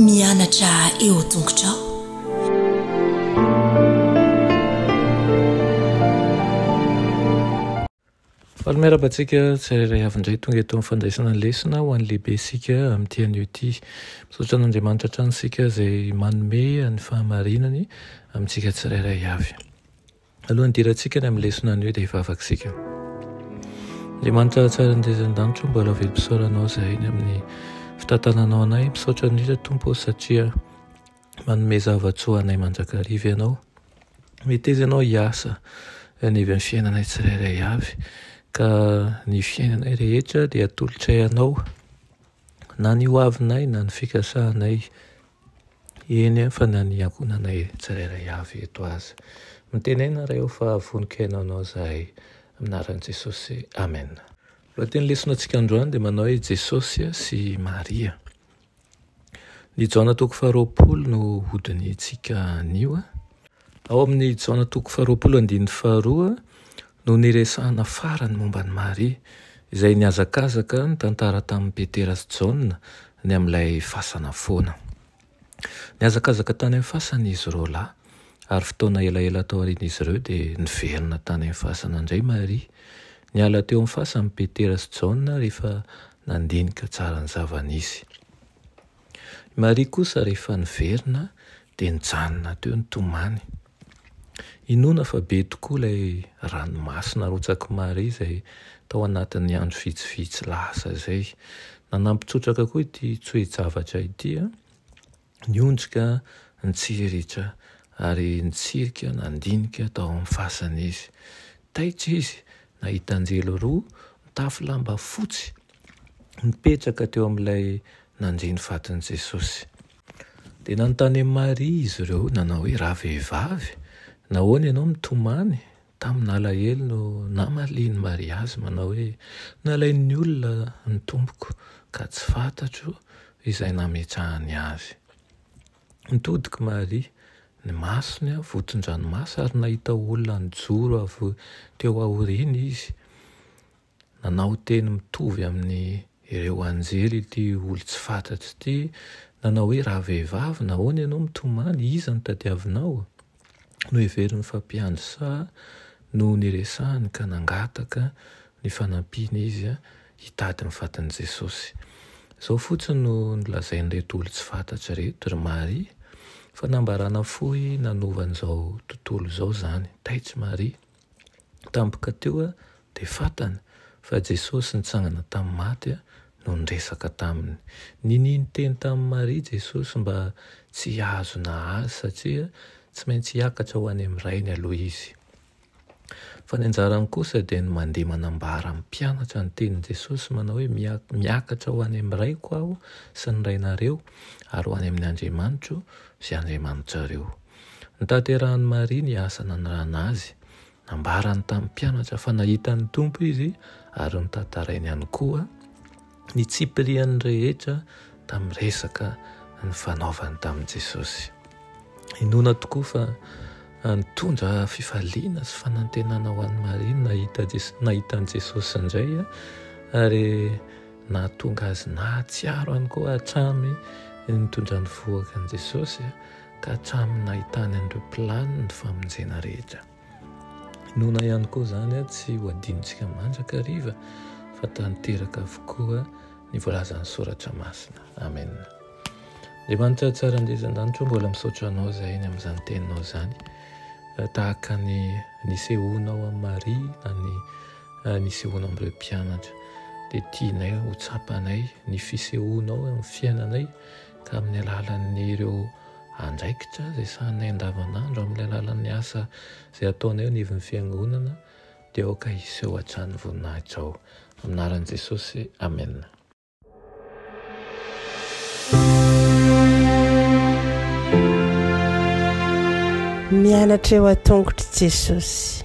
Mianatra eo tongotrao. Faly miaraba antsika tsirairay avy indray tonga eto amin'ny fandraisana ny lesona ho an'ny lehibe isika amin'ity anio ity. Misaotra an'Andriamanitra hatrany isika izay manome ny fahamarinany amintsika tsirairay avy. Alohan'ny hidirantsika ny amin'ny lesona anio dia hivavaka isika. Andriamanitra tsara indrindra an-danitra, mbola velom-pisaoranao izahay ny amin'ny fitantananao anay. Misaotra indrindra Tompo satria manome zava-tsoa anay mandrakariva ianao. Meteza ianao hiasa anivon'ny fiainanay tsirairay avy ka ny fiainanay rehetra dia atolotray anao na ny hoavinay na ny fikasanay. Eny, fa na ny ankohonanay tsirairay avy eto aza. Mitenena raha eo fa vonon-kena ho anao izahay. Amin'ny anaran'i Jesosy, amena. Lohatenin'ny lesonatsika androany dia manao hoe Jesosy sy Maria. Ny Jaona toko faharoapolo no hodinihintsika anio. Ao amin'ny Jaona toko faharoapolo andininy faharoa no niresahana farany momba an'i Maria, izay nihazakazaka nitantara tamin'i Petera sy Jaona ny amin'ilay fasana foana. Nihazakazaka tany amin'ny fasana izy roalahy, ary fotoana elaela taorian'izy ireo dia niverina tany amin'ny fasana indray Maria. Niala teo amin'ny fasany Petera sy Jaona rehefa nandinika tsara ny zava-nisy. I Maria kosa rehefa niverina dia nijanona teo nitomany. Inoana fa be tokoa ilay ranomasina arotsak'i Maria izay tao anatin'ny andro vitsivitsy lasa izay. Nanampy trotraka koa ity toe-javatra ity, ny ondrika nitsiritra ary nitsirika nandinika tao amin'ny fasana izy. Taitra izy nahita anjely roa mitafy lamba fotsy nipetraka teo amin'ilay nandia ny fatin'i Jesosy. Dia nanontany an'i Maria izy ireo nanao hoe, Ravehivavy, nahoana ianao mitomany? Tamin'alahelo no namalian'i Maria azy manao hoe, Nalain'ny olona ny Tompoko, ka tsy fantatro izay nametrahany azy. Nitodika i Maria, ny masony voton-dranomaso, ary nahita olona nijoro avy teo aoriany izy. Nanao teny mitovy amin' ireo anjely ity olon-tsy fatratra ity, nanao hoe, Raha vehivavy, nahoana ianao mitomany? Iza no tadiavinao? Noheveriny fa mpiandry saha no niresahany ka nangataka ny fanampiana izy hitady ny vatan'i Jesosy. Izao fotsiny no nolazain'ireto olon-tsy fatratra ireto, Ry Maria, fanambarana fohy nanova an'izao tontolo izao izany. Taitsy Maria. Tampoka teo dia fantany fa Jesosy nitsangana tamin'ny maty no niresaka taminy. Ninia niteny tamin'i Maria Jesosy mba tsy hihazona Azy satria tsy maintsy hiakatra ho any amin'ny Rainy aloha Izy. Fa ny anjarany kosa dia ny mandeha manambara amin'ny mpianatra ny tenin'i Jesosy manao hoe miakatra ho any amin'ny Raiko Aho sy ny Rainareo ary ho any amin'Andriamanitro sy Andriamanitrareo. Notaterahan'i Maria ny asa nanirahana azy. Nambarany tamin'ny mpianatra fa nahita ny Tompo izy ary notantarainy ihany koa ny tsipirian'ny rehetra tamin'ny resaka nifanaovany tamin'i Jesosy. Inoana tokoa fa nitondra fifaliana sy fanantenana ho an'i Maria ny nahita Jesosy, nahita an'i Jesosy indray ary nahatonga azy nahatsiaro ihany koa hatrany ny nitondra ny vohoka an'i Jesosy ka hatramin'ny nahitany an'ireo mpilany ny famonjena rehetra. Inoana ihany koa izany tsy ho adinontsika mandrakariva fa tanteraka avokoa ny voalazan'ny Soratra Masina. Amen. Andriamanitra tsara indray izan-danitra, mbola misaotra anao izay ny amin'izany teninao izany. Eh, tahaka ny nisehoanao amin'i Maria na ny eh, nisehoanao amin'ireo mpianatra dia tianay ho tsapanay ny fisehoanao amin'ny fiainanay ka amin'ny alalan'ny ireo andraikitra izay sahaninay andavanandro, amin'ny alalan'ny asa izay ataonay eo anivon'ny fiangonana, dia aoka hiseho hatrany voninahitra ao. Amin'ny anaran'i Jesosy, amena. Mianatra eo an-tongotr'i Jesosy.